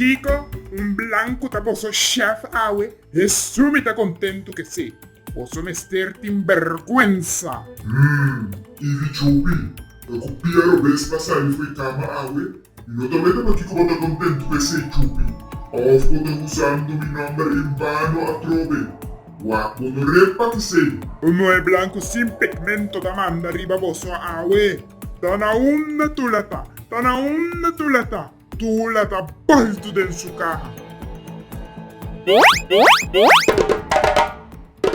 Kiko un blanku ta boso shèf awe? Hesu mi ta kontentu ke se. Boso mester tin bèrgwensa. Hum, i di Chupi, e ku pia robes pa sali fo'i kama awe? Mi no ta mete pakiko bo ta kontentu ke se, Chupi. Òf bo ta usando mi nòmber en vano atrobe? Wak bo no repa ke se. Un muhé blanku sin pigmento ta manda riba boso awe? Ta na unda Tula ta? Ta na unda Tula ta? Tula ta baltu den su kaha.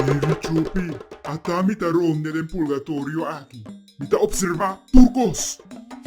Bibi Chupi, Ata mi ta ronde den purgatorio aki. Mi ta opservá tur kos.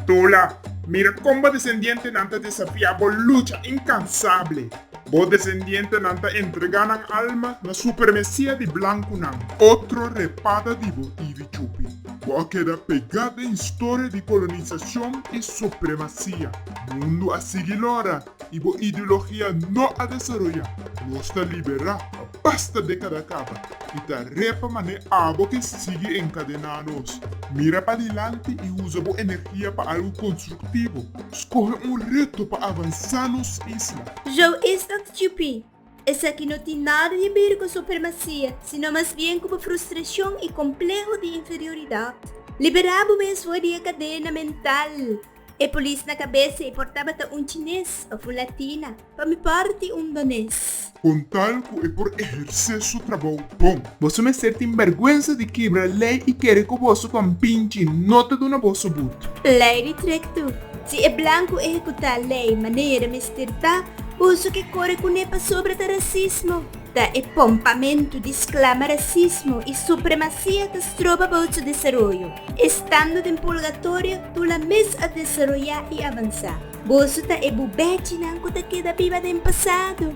Tula, Mira kon bo desendientenan ta desafiá bo lucha inkansable. Bo desendientenan ta entregá nan alma na supermesia di blankunan. Otro repata di bo, Ivi Chupi. Bo a keda pegá den historia di kolonisacion i supremacia. Mundu a sigui lora i bo ideologia no a desaroyá. Nos ta liberá, basta dékada kaba i ta re pa manera abo ke sigui enkadená nos. Mira pa dilanti i usa bo energia pa algu konstruktivo. Skohe un reto pa avansá nos isla. Jou is dat Djipí Esaki no tin nada di bir ku supremasia, sino mas bien ku bo frustrashon i kompleho di inferioridat. Liberá bo mesmu di e kadena mental. E polis na kabesa i por tabata un chines òf un latina. Pa mi párti un dones. Kontal ku e por ehersé su trabou bon. Boso mester tin bèrgwensa di kibra lei i kere ku boso kompinchi no ta duna boso but. Lei di trektu. Si e blanku ehekutá lei manera mester ta, boso ke kore kuné pasobra ta rasismo. Ta e pompamentu di sklama rasismo i supremasia ta stroba bout su desaroyo. Estando den purgatorio, Tula mes a desaroyá i avansá. Boso ta e bubèchinan ku ta keda biba den pasado.